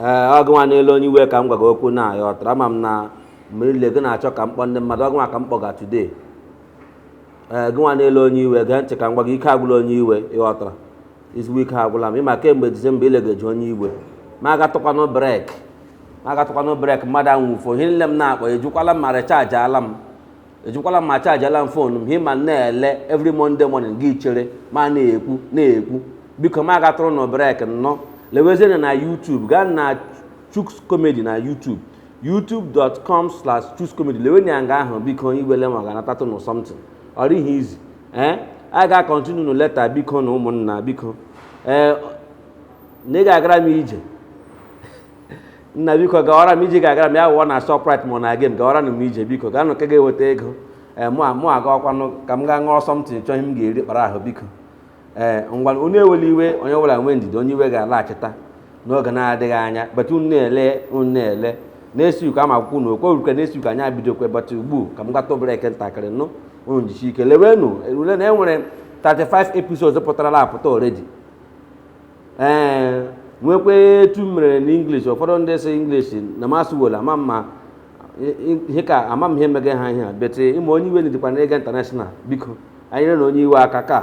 ee ọ gị nwa na-ele onye iwe ka m gwa gị okwu nna ịghọtara ama m na mgbe niile gị na-achọ ka m kpọọ ndị mmadụ ọ gị nwa ka m kpọga today ee gị nwa na-ele onye iwe gee ntị ka m gwa gị ike agwụla onye iwe ịghọtara eziokwu ike agwụla m ịma kemgbe disemba ile ga-eji onye iwe ma agatụkwanụ brek ma agatụkwanụ brek mmadụ anwụfuo ihe niile m na-akpọ ejikwala m ma rechaajị ala m ejikwala ma chajala m fon m hima na-ele every Monday morning gị chere ma na-ekwu na-ekwu biko mụ agatụrụnụ brek nnọọ lewezienụ na YouTube gaa na Chuks Comedy na YouTube youtube.com slash Chuks Comedy lewenụ ya nga ahụ biko iwele ma ga-anatatụ nụ something ọ dịghị easy ee a ga-akọntinu nụ later biko nụ ụmụnna biko ee na ị ga-agara m ije nna biko gawara m ije ga-agara m ya wụọ na Shoprite ma ọ na-aga m gawara m ije biko gaa nụ ka ga-eweta ego ee mụ a- mụ agawakwanụ ka m gaa ṅụọ something chọọ ihe m ga-eri kpara ahụ biko ee ngwa onye ewela iwe onye ọbụla nwee ndidi onye iwe ga-alaghachita n'oge na-adịghị anya but unu na-ele unu na-ele na-esi uko ama akwụkwọ unu okwe uruke na-esi uko anyị abidokwe but ugbu a ka m gata obere brek ntakịrị nụ unu jisi ike lewenụ ule na e nwere 35 episodes pụtarala apụta already e nwekwa otu m mere n'English ụfọdụ ndị sị English na-amasị wola ama mma ihe ka ama m ihe mega ha ihe a but ịma onye iwe niidịkwanụ ịga international biko nyerenụ onye iwe aka ka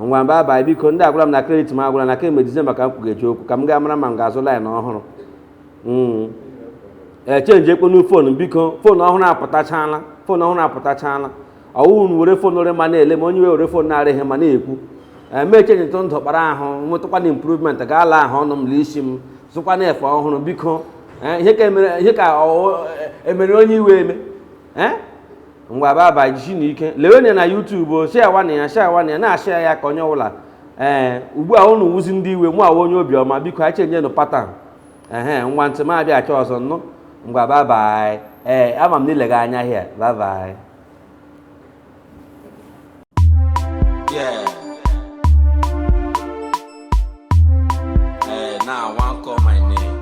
ngwa babaị biko ndụ agwụla m na kredit m agwụla na kemgbe dizemba ka m kwugeji okwu ka m gaa mara ma m ga-azụ laịn ọhụrụ hmm. a chenjikwanụ fon biko fon ọhụrụ apụtachala fon ọhụrụ apụtachala ọ wụ unu were fon rị mma na-ele m onye were fon na-arịghị mma na-ekwu emeche nyetụ ndụ kpara ahụ nwetụkwanụ improvement gaa laa ahụ ọnụ m la isi m zụkwanụ efe ọhụrụ biko eh, ihe ka emere ihe ka emere onye iwe eme eh? ngwa babaị jisinụ ike lewenụ ya na YouTube shịawanụ ya shịawanụ ya na-ashịa ya ka onye ọbụla ee eh, ugbu a unu wụzi ndị iwe mụ awụ onye obiọma biko anyị chenjienụ pattern ehe ngwa until mụ abịachie ọzọ nụ ngwa babaị ee ama m na ị lega anya hịa babaị Yeah. Eh, now I want call my name.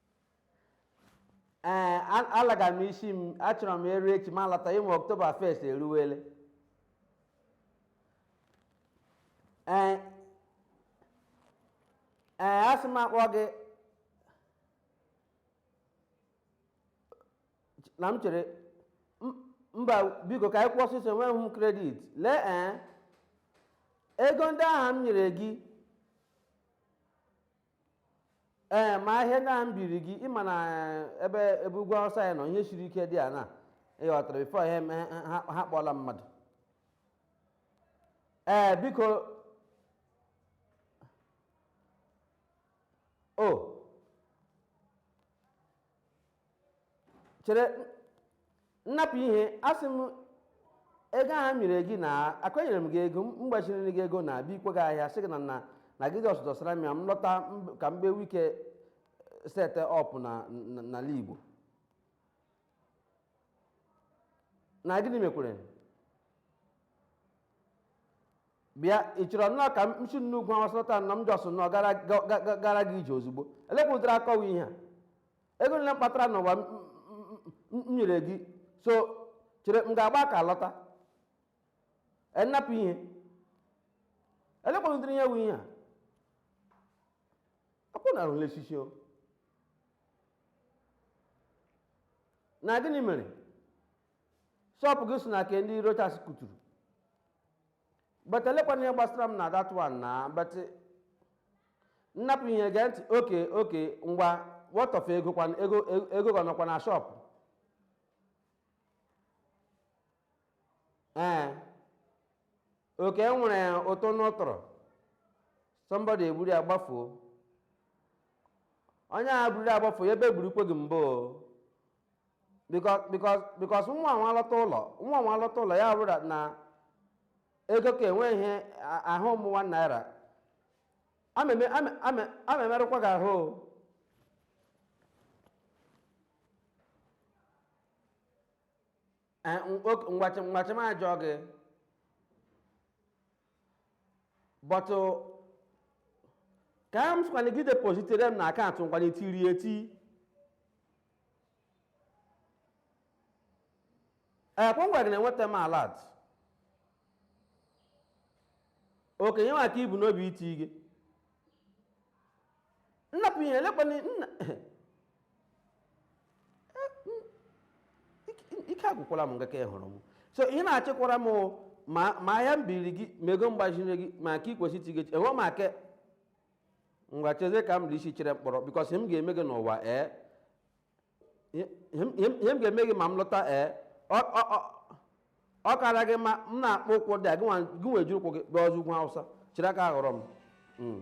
ee a- alaga m isi m achọrọ m eru echi ma lata ị ma October first eruwele ee ee asị m akpọ gị na m chere m- mba biko ka anyị kwuo ọsịsọ enweghị m credit lee ee ego ndị ahụ m nyere gị ee ma ahịa ndị a m biri gị ị ma na eh, ebe ebe ugwu awụsa anyị nọ ihe siri ike dị a na ị ghọtara before ha eme ha ha kpọọla mmadụ ee biko o chere nna hapụ ihe asị m ego ahụ m nyere gị na akwanyere m gị ego m gbaziri gị ego na bikwe gị ahịa sị gị na na na gị just dọsara m ya m lọta m- ka m ga-enwe ike set up na na- n'ala igbo na gịnị mekwara bịa ị chọrọ nnọọ ka m si n'ugwu awụsa lọta na m just nnọọ gara ga- ga- ga- gara gị ije ozugbo elekwụtara akọwa ihe a ego nile m kpatara n'ụwa m- m- m- m nyere gị so chere m ga-agba aka lọta nna hapụ ihe elekwụtara ihe wụ ihe a akwụ na arụla echichi o na gịnị mere shop gị so na nke ndị rochas kụturu but olekwanụ ihe gbasara m na that one na but nna hapụ ihe gee ntị okay okay ngwa what of ego kwanụ ego ego gị nọkwa na shop ee okay e nwere ụtụ n'ụtụrụ somebody eburu ya gbafuo onye ahụ buru ya gbafuo ya ebe gburu ikwe gị mbụ o. because because because nwa nwa lọta ụlọ nwa nwa lọta ụlọ ya bụrụ na ego ka enwe ihe a- ahụ ụmụ one naira ameme ame- ame- amemerụkwa gị ahụ o. Eh, ng- ok- ngwachi ngwachi m ajọ gị but ka m sịkwana gị depositere m na account ngwana etiri eti ekwe ngwa gị na-enweta m alert okay nye m nke i bu n'obi iti gị nna hapụ ihe elekwana nna ike agwụkwala m ngaka hụrụ m so ị na-achịkwara m ma ahịa m biri gị ma ego m gbaziri gị ma nke i kwesịrị iti gị enye m aka ngwa chezie ka m dị isi chere mkpọrọ because ihe m ga-eme gị n'ụwa ee ihe m ga-eme gị ma m lọta ee ọ kara gị mma m na-akpọ ụkwụ dị a gị nwe jiri ụkwụ gị bịa ọzọ ugwu awụsa chiri aka aghọrọ m hmm.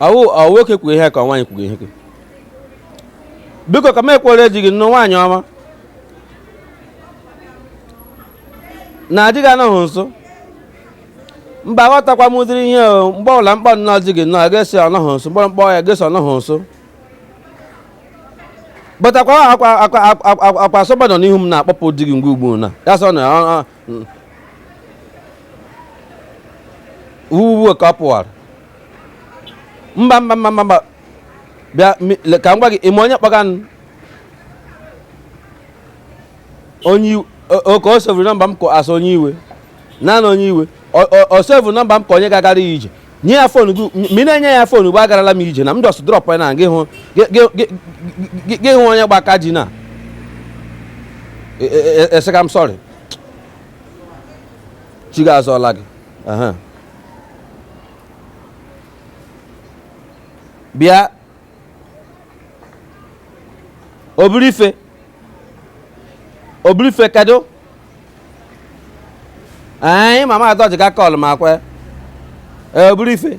ọ nwoke kwuru ihe ka nwaanyị kwuru ihe biko ka m kwuru di gị nụ nwaanyị ọma na di gị anọghị nso mba aghọtakwa m ụdịrị ihe mgbe ọbụla m kpọ nnọọ di gị nnọọ gị asị ọ nọghị nso m kpọrọ m kpọọ ya gị asị ọ nọghị nso bụtakwa akwa asọba nọ n'ihu m na-akpọpụ di gị mgbe ọbụna ya sị ọ wụ ugbu a ka ọ pụwara mba mba mba mba mba bịa mi- le- ka m gwa gị ị ma onye kpọga m onye iwe o- o- ka o saveuru number m as onye iwe naanị onye iwe O- o- o saveuru number m ka onye ga-agara ya ije nye ya phone gị m- ị na-enye ya phone ugbu a agarala m ije na m just drop ya na gị hụ gị- gị- gị- gị- gị hụ onye gba aka ji na eseka m sorry chi gị azọla gị Aha. bịa obirife obirife kedu anyị mama atọ ji ga kọlụ ma kwe ee obirife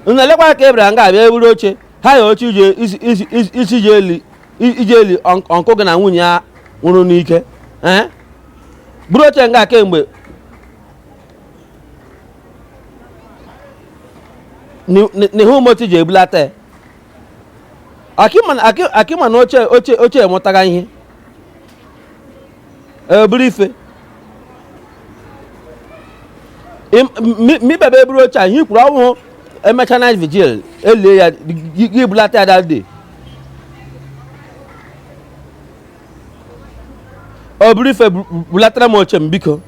unu elekwa ka ebere nga abịa eburu oche haya oche ije isi- isi- isi- isi iji eli i- iji eli unc- uncle gị na nwunye ya nwụrụ n'ike ee buru oche nga kemgbe n'ihe ụmụotu ji ebulata ya akịma na oche oche oche enwetaghị ihe obirife mibebe eburu oche a ihe m kwuru wụ emecha night vigil elie ya gị ebulata ya that day obirife bulatara m oche m biko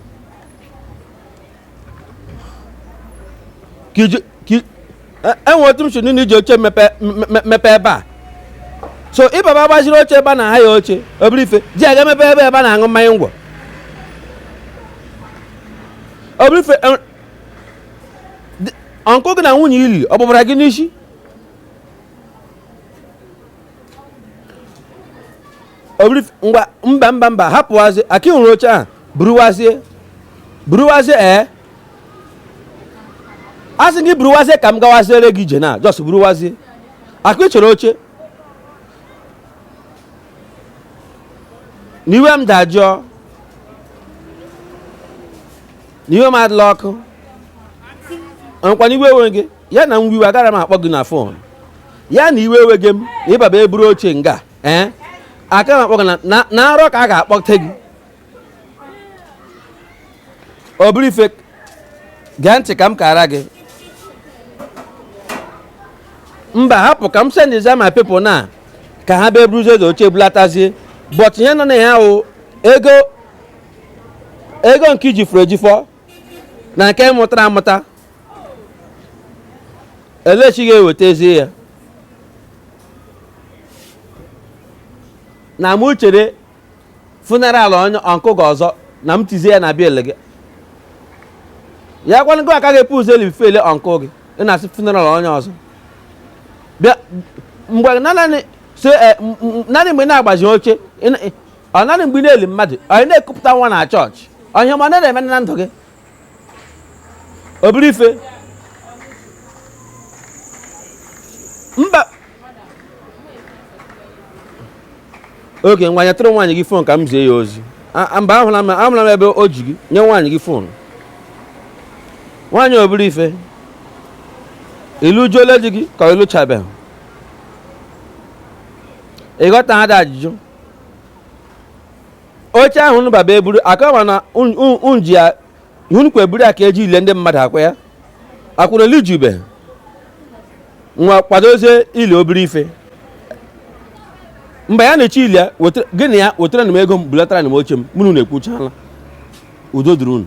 enwe e otu m sị na i ji oche mepe ebe a so ị baba gbaziri oche ebe a na-ahaya oche obirife ji aga emepe ebe ebe a na-aṅụ mmanya ngwọ obirife uncle gị na nwunye ili ọ bụbara gị n'isi mba mba mba hapụwazi aki hụrụ oche ahụ buruwazie buruwazie ee eh? a sị gị buruwazie ka m gawaziere gị ije na ọsọ buruwazie akụ ị chọrọ oche n'iwe m dajụọ n'iwe m adịla ọkụ ọ kwa n'iwe ewe gị ya na nwiwe agara m akpọ gị na fon ya na iwe ewe gị m na ịbaba eburu oche nga ee aka m akpọ gị na arọ ka a ga-akpọte gị ọ bụrụ ife gee ntị ka m kara gị mba hapụ ka m sendzie my people na ka ha bịa buruzie eze oche bulatazie but ihe nọ na ya ahụ ego ego nke i jifọrọ ejifọ na nke mụtara amụta elechi ga-ewetazie ya na mụ chere funeral onye uncle gị ọzọ na m tizie ya na bịa ele gị ya kwana gị aka ga-ebu ụzọ eli funeral uncle gị ị na-asị funeral onye ọzọ bịa mgbe nanị so eh, m- m- nanị mgbe ị na-agbazi oche ị na- ọ nanị mgbe ị na-eli mmadụ ọ ị na-ekupụta nwa na chọọchị onye ma ọ na-eme na ndụ gị obere ife mba oge ngwa nyetụrụ nwaanyị gị fon ka m zie ya ozi mba ahụla m ahụla m ebe o ji gị nye nwaanyị gị fon nwaanyị obere ife ị lụjuola di gị ka ị lụchabeghị ị ghọtaha ụdị ajụjụ oche ahụ unu baba eburu akọwa na unji ya hunukwa eburu ya ka e ji eli ndị mmadụ akwa ya akwa unu elijubeha kwadozie ili obere ife mgbe ya na-eche ili ya gị na ya wetara na m ego m bulatara na m oche m mụ na unu ekwuchala udo dịrị unu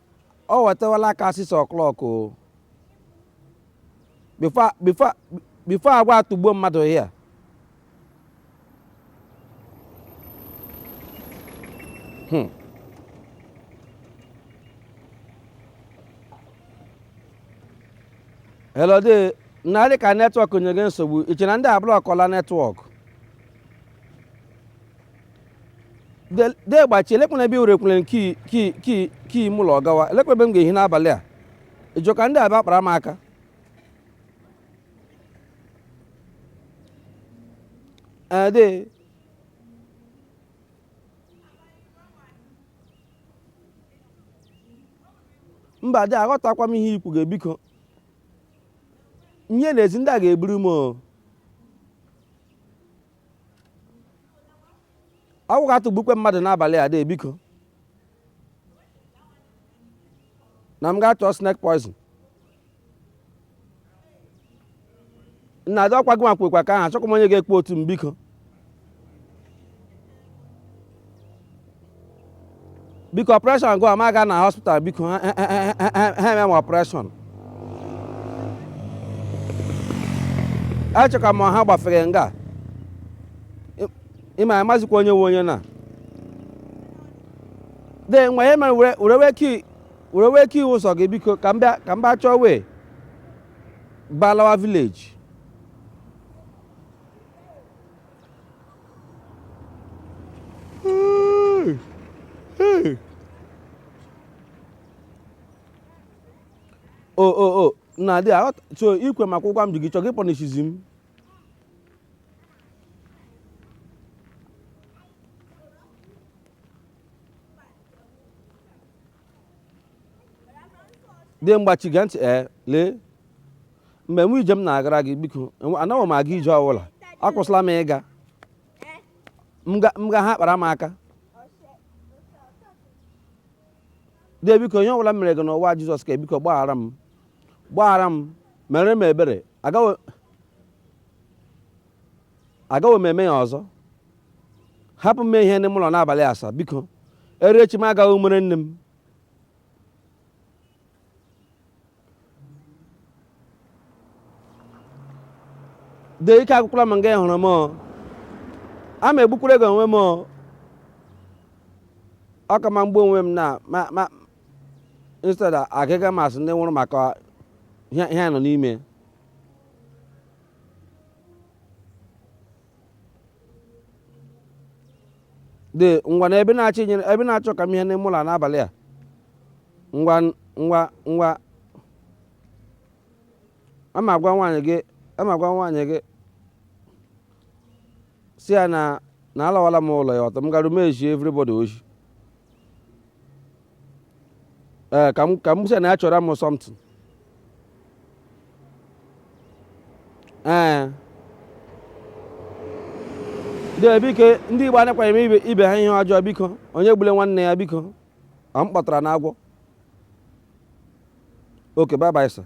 ọ wetawala aka six o'clock o before before before agwa atụgbuo mmadụ here hmm. hello dee na-adị ka network nyege nsogbu i che na ndị ablọkọla network de gbachi elekwanụ ebe i were ekwere key m ụlọ gawa elekwa ebe m ga-ehi n'abalị a ị chọ ka ndị a bịa kpara m aka de eh, mba de aghọtakwa m ihe ị kwuga e biko m hie n'ezi ndị a ga-egburu m agwọ ga-atụgbukwe mmadụ n'abalị a de biko na m ga-achọ snake poison nna de ọkwa gị nwa kwekwa ka ahụ achọkwa m onye ga-ekpe otu m biko biko operation gụ amaga na hospital biko ha ha- ha- ha- ha- ha eme m operation achọkwa m ha gbafere nga Ị- ịma amazikwa onye wụ onye na de nwa ya mere were were wee key were wee key ụzọ gị biko ka m bịa ka m bịa chọọ wee gbalawa village o o o nna de aghọta so ikwe maka ụgwọ m ji gị chọọ gị pọnishizi m de gbachi gee ntị ee lee mgbe wụ ije m na-agara gị biko anaghị m aga ije ọbụla akwụsịla m ịga nga ha kpara m aka dee biko ihe ọbụla m mere gị n'ụwa Jesus ka biko gbaghara m gbaghara m mere m ebere agaghị m eme ya ọzọ hapụ m ehie n'ime ụlọ n'abalị a sir biko erechi m agaghị mere nne m de ike agwụkwala m nga ị hụrụ m o. a ma egbukwara gị onwe m o. ọ ka mma m gbuo onwe m na ma ma instead agịga m asị ndị nwụrụ maka ihe ihe a nọ n'ime de ngwanụ ebe ị na-achọ inyere ebe ị na-achọ ka m hie n'ime ụlọ a n'abalị a ngwa ngwa ngwa ama agwa nwaanyị gị ama agwa nwaanyị gị si ya na na alawala m ụlọ ya ọtọ m gara m eji everybody oji ee ka m ka m sị na ya chọrọ m something ee dee biko ndị igbo anakwaghị eme ibe ibe ha ihe ọjọọ biko onye egbula nwanne ya biko ọ m kpọtara na agwọ oke bye bye sir